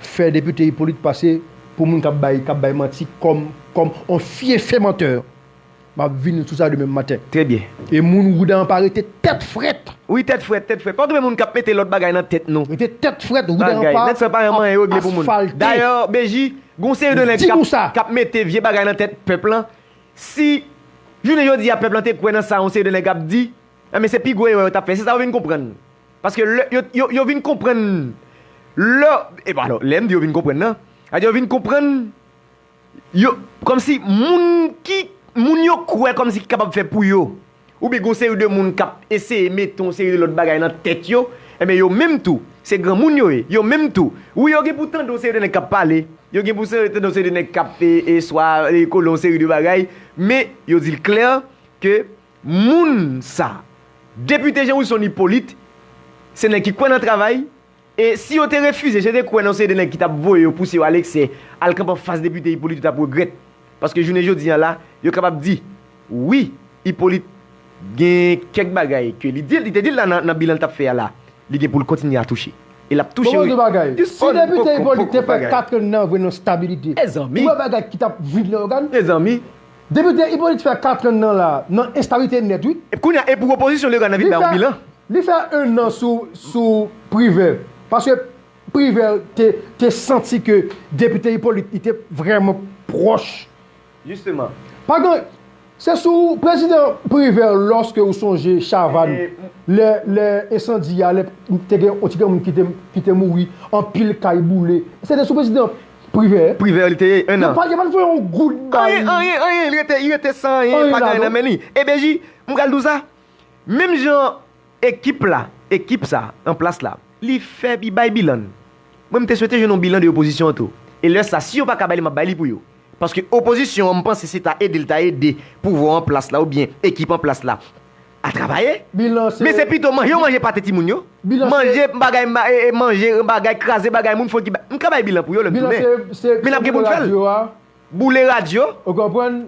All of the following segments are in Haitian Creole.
fè depite Hyppolite pase pou moun kap bay kap bay manti kòm kòm on fyefe menteur map vini sou sa demen maten Trè byen. e moun wouda an pa rete tèt frèt. Wi tèt frèt tèt frèt pa gen moun kap mete lòt bagay nan tèt nou. Rete tèt frèt wouda an Bagay pa nèt sa pa gen ap manyen yo regle pou moun. asfalte. Dayè BJ gen yon seri de nèg Di kap nou sa. kap mete vye bagay nan tèt pèp lan si jounen jodi a pèp lan te kwè nan sa yon seri de nèg ap di enben se pi gwo erè yo tap fè se sa yo vin konprann. Paske lè, yo, yo, yo vin konprann lè, e bon alò, lè m di yo vin konprann nan, sa vle di yo vin konprann, yo, kòmsi moun ki, moun yo kwè kòmsi ki kapab fè pou yo, oubyen gen yon seri de moun k ap eseye mete yon seri de lòt bagay nan tèt yo, enben yo menm tou, se granmoun yo ye, yo menm tou, wi yo gen pou tande yon seri de nèg k ap pale, yo gen pou se, tande yon seri de nèg k ap e, e swa, e kole yon seri de bagay, men yo di l klè ke Moun sa. Depite Jean Wilson Hyppolite se nèg ki kwè nan travay e si yo te refize je te kwè nan yon seri de nèg ki tap voye yo pouse yo al eksè al kanpe an fas depite Hyppolite yo tap regrèt paske jounen jodi an la yo kapab di wi Hyppolite gen kèk bagay ke li di li te dil la nan bilan li tap fè a la li gen poul kontinye a touche e lap touche wi jis on poko poko bagay. Mezanmi. Mezanmi. Depite Hyppolite fè katran nan la nan enstabilite nèt wi. Epi kounya epou opozisyon legal nan vin bayo bilan. Li fè 1 nan sou privert paske privert te santi ke depite Hyppolite li te vrèman proch. Jisteman. Pa gen se sou prezidan privert loske ou sonje chavann lè ensandi a lè te gen yon ti gen moun kite mouri anpil kay boule se te sou prezidan Privè? Privè li te ye 1 an. Yo pa yo pa t voye yon goud ba li. Anyen, anyen, anyen, li rete, li rete san anyen, pa gen anyen nan men li. E Beji, m pral di w sa, menm jan ekip la, ekip sa an plas la, li fè, li bay bilan l, mwen m te swete jwenn yon bilan de opozisyon an tou. E lè sa, si yo pa ka bay li, m ap bay li pou yo. Paske opozisyon an, m panse se ta ede l ta ede pouvwa an plas la oubyen ekip an plas la. a travaye, men se pito manje yo manje pate timoun yo, manje bagay manje bagay kraze bagay moun fon ti bagay, m ka bay bilan pou yo lè m tounen, men n ap gen pou n fè l, boule radyo,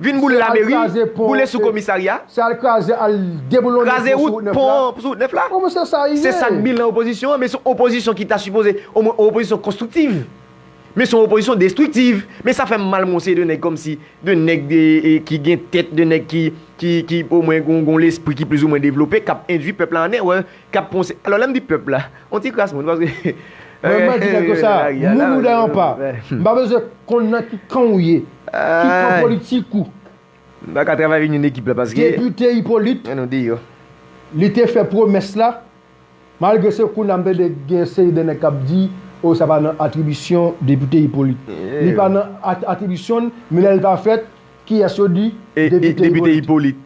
vin boule lameri, boule sou komisarya, kraze wout, pon an sou wout nèf la, se sa k bilan opozisyon an, men se yon opozisyon ki ta sipoze omwen yon opozisyon konstriktiv. Men son opozisyon destriktiv. Men sa fè m mal m wè se de nèg kòm si, de nèg ki gen tèt, de nèg ki omwen gon lespri ki plizoumwen devlope k ap endui pèp la an erè, k ap ponse. Alò lè m di pèp la, yon ti kras moun paske Mwen mwen di nèg yo sa, moun ou dèy an pa. M pa bezwen konn nan ki kan ou ye, ki kan politik ou. M pa ka travay avèk yon ekip la paske. Depite Ipolit, li te fè pwomès la, Malgre se kounye a m tande gen yon seri de nèg k ap di o sa pa nan atribisyon depite Ipolit. Li pa nan atribisyon l, men lè l va fèt, kiyès yo di? Depite Ipolit.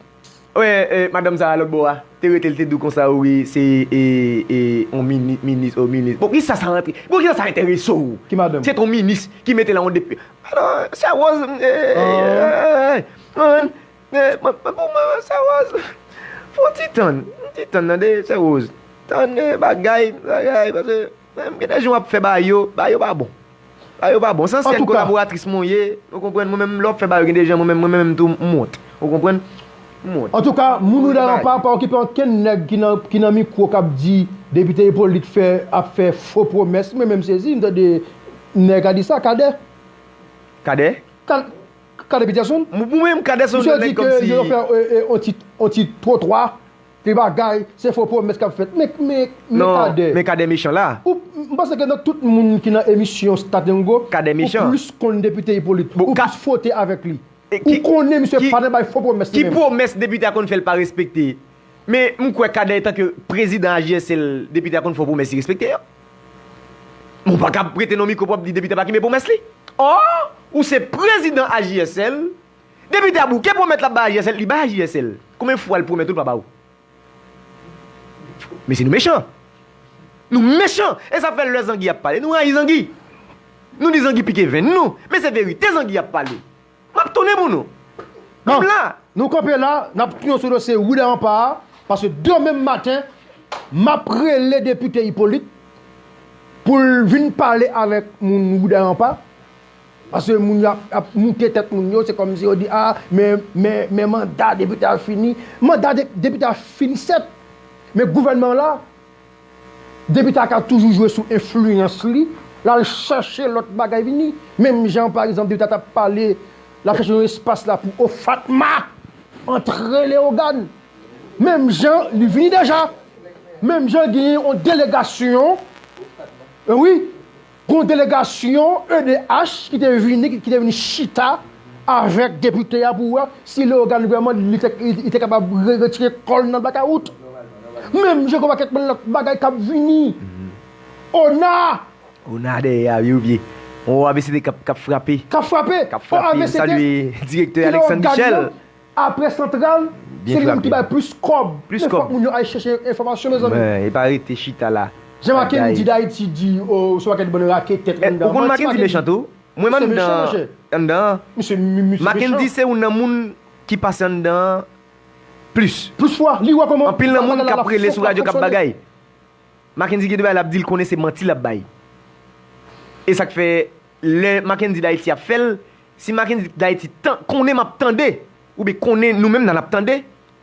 Wè madanm sa a lòt bò a, te rete l te di w konsa o wi se yon minis o minis. Bon kisa sa rantre, bon kisa sa enterese w? Ki madanm? Se t yon minis ki mete la yon depite. Alò, sè Rose, eeyy, eeyy, eeyy, ou konprann? Mwen pou mwen mwen sè Rose fon ti tann yon ti tann tande sè Rose tann bagay bagay pase menm gen de jou wap fè bagay yo bagay yo pa bon bagay yo pa bon san syèl kolaboratris mwen ye ou konprann mwen menm lè wap fè bagay yo gen de jan mwen menm mwen menm tou m wont ou konprann m wont. Antouka moun ou dalan pa pa okipe ankenn nèg ki nan mikwo kap di depite Hyppolite fè ap fè fo pwomès mwen menm sezi m tande nèg a di sa Cadet. Cadet? Kade Peterson. Pou menm Kade se yon nèg kòm si. Misye di ke yo fè yon ti twotwa, ti bagay, se fo pwomès kap fèt. Men Kade. Non, men Kade mechan la. M panse ke nan tout moun ki nan emisyon Stadyango. Kade mechan. Ou plis konn Depite Hyppolite. Ou plis fwote avèk li. Ou konnen misye pa nan bay fo pwomès li menm. Ki pwomès Depite a konn fè li pa respekte? Men m kwè Kade etanke Prezidan AJSL, Depite a konn fè yon pwomès li respekte yo. Men ou paka ap prete non mikro pou ap di depite ap akibe pwomès li. Or, ou se prezidan AJSL, depite a bouke pwomèt l ap bay AJSL, li bay AJSL. Konbyen fwa l pwomèt ou l pa ba ou? Mesye nou mechan! Nou mechan! E sa fè lè zangi ap pale nou rayi zangi. Nou di zangi pike venn nou, men se verite zangi ap pale. Map tounen pou nou. M la. Nou kanpe la, nap tounen sou dosye Willy Rempart a, paske demen maten map rele depite Hyppolite pou l vin pale avèk moun Willy Rempart, paske moun yo ap moute tèt moun yo, se kòmsi yo di a men men manda depite a fini, manda depite a fini sèt men gouvènman an la. Depi Tata toujou jwe sou enfliyans li, l al chache lòt bagay vini. Menm jan pa egzanp depi Tata ap pale, l ap chache yon espas la pou o Fatma antre Leyogàn. Menm jan li vini deja. Menm jan genyen yon delegasyon, wi. Gon delegasyon edh ki te vini ki te vini chita avèk depite a pou wè si Leogane vrèman li te kapab retire kò l nan blakawout. Menm jan konba kèk lòt bagay k ap vini. Ona! Ona dèyè a wi ou byen? On avct k ap frape. K ap frape! K ap frape. N ap salye direktè Alexandre Michel. Aprè santral se li menm ki bay plis kòb men fòk moun yo al chèche enfòmasyon mezanmi. E pa rete chita la Jan makendy di dayiti di ou son paket bann raketèt anndan an manti makendy se mechan monchè misye mechan plis fwa li wè kòman bagay la ap fonksyone. lè Mackendy D'Haiti ap fèl si Mackendy D'Haiti tan konnen map tande ou byen konnen nou menm nan nap tande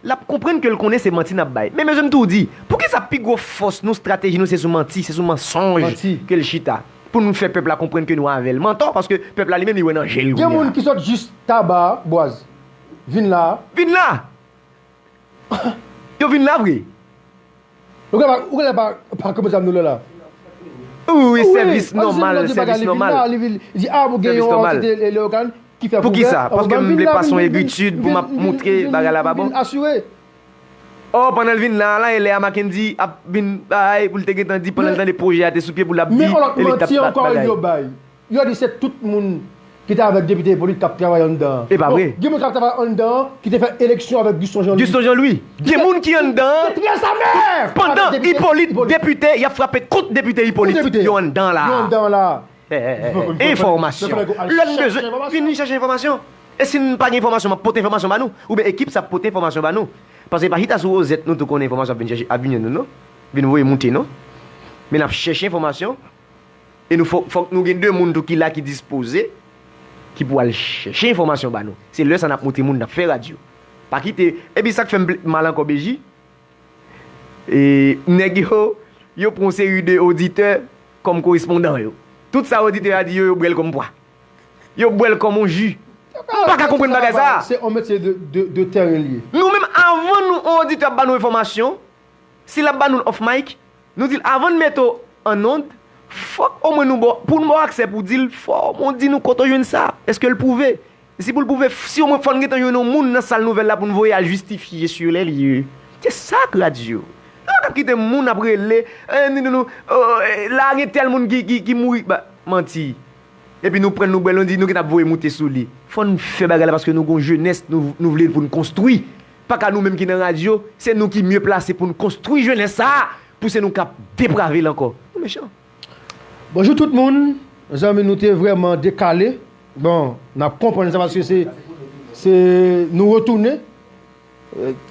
lap konprann kel konnen se manti nap bay men mesye m tou di poukisa pi gwo fòs nou strateji nou se sou manti se sou mansonj kel chita pou nou fè pèp la konprann ke nou avèl mantò paske pèp la li menm li wè nan jel Gen moun ki sot jis taba boaz vin la. Vin la! Yo vin la vre. Ou gen ou genlè pa pa kòmanse avm nou lè la. Wi wi sèvis nòmal sèvis nòmal sèvis nòmal poukisa paske m vle pa son ebitid pou map moutre bagay la pa bon ò pandan l vin la la e lè a makendy ap vin bay pou l te gentan di pandan l tande pwojè a te sou pye pou l ap di e li tap bat bagay. Yo di se tout moun ki te avèk depite Hyppolite kap travay anndan an. Epa vre? Gen moun kap travay anndan an ki te fè eleksyon avèk Guston Jean Louis. Guston Jean Louis. Gen moun ki anndan an. Ki te pran sa mèm! Pandan Hyppolite depite yap frape kont depite Hyppolite. Yo anndan an la a. Yo anndan an la a. Enfòmasyon. Lè nou bezwen enfòmasyon. Vini chache enfòmasyon. E si m pa gen enfòmasyon map pote enfòmasyon ba nou. Oubyen ekip sa ap pote enfòmasyon ba nou. Pase pa chita sou wozèt nou tou konnen enfòmasyon ap vin chèche ap vin jwenn nou non. Vin voye moute non. Men nap chèche enfòmasyon. E nou fòk fòk nou gen 2 moun tou ki la ki dispoze ki pou al chèche enfòmasyon ba nou. Se lè sa nap montre moun nap fè radyo. Pa kite epi sak fèm plis mal ankò Beji e nèg yo yo pran yon seri de oditè kòm korespondan yo. Tout sa oditè a di yo yo bwèl kòm pwa. Yo bwèl kòm yon ji. M paka konprann bagay sa a. Se yon metye de tèren li ye. Nou menm avan nou yon oditè ap ba nou enfòmasyon, si lap ba nou l off mic, Nou dil avann mete w an ond fòk omwen nou baw poun baw aksè pou dil fò omwen w di nou kote w jwenn sa eskel pwouve si poul pwouve si omwen fòn gentan jwenn yon moun nan sal nouvèl la poun voye al jistifye sur les lieux se sak radyo nou pa ka kite moun ap rele la gen tèl moun ki mouri manti epi nou pran noubèl nou di nou gentan ap voye moute sou li fòn fè bagay la paske nou gon jenès nou vle poun konstwi. Paka nou menm ki nan radyo, se nou ki mye plase pou n konstwi jenès sa a pou se nou k ap deprave l ankò. Nou mechan. Bonjou tout moun, zanmi nou te vrèman dekale, bon n ap konprann sa paske se se nou retounen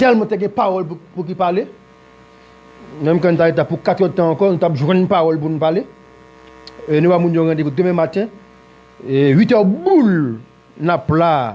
tèlman te gen pawòl pou ki pale menm kan n ta reta pou 4 èd tan ankò nou t ap jwenn pawòl pou nou pale e nou ba moun yo randevou demen maten 8 è boul n ap la a.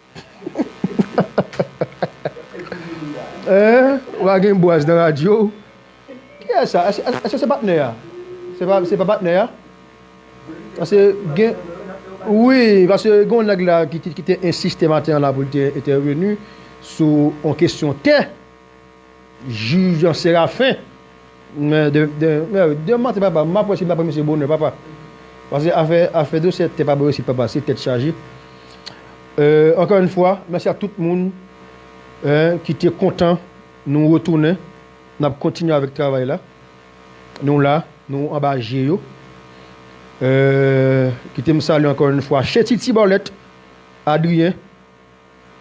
Ou pa gen bwaz nan radyo ou. Kiyès sa? Eske se patnè a? Se pa patnè a? Pase gen Wi, pase gen yon nèg la ki te ensiste maten an la pou l te entèveni sou yon kesyon tè. Juge Séraphin Demanti papa map wè si mta pran misye bonè papa Paske afè afè dosye tè pa bon isit papa se tèt chaje Ankò yn fwa mèsi a tout moun ki te kontan nou retounen nap kontinye avèk travay la nou la nou anba je yo Kitem salye ankò yn fwa Chéti Tibolèt Adrien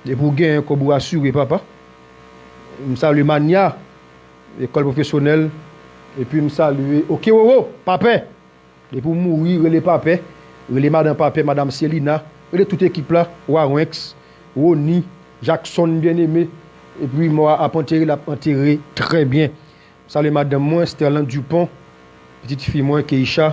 Depi w genyen kob ou asire papa. M salye mania ekol profesyonel epi m salye ok roro papè depi w mouri rele papè rele madan papè madam selina rele tout ekip la wawenx rony jakson bien aime epi mò a ap antere lap antere trè bien m salye madanm mwen sterlande dupon pitit fi mwen keisha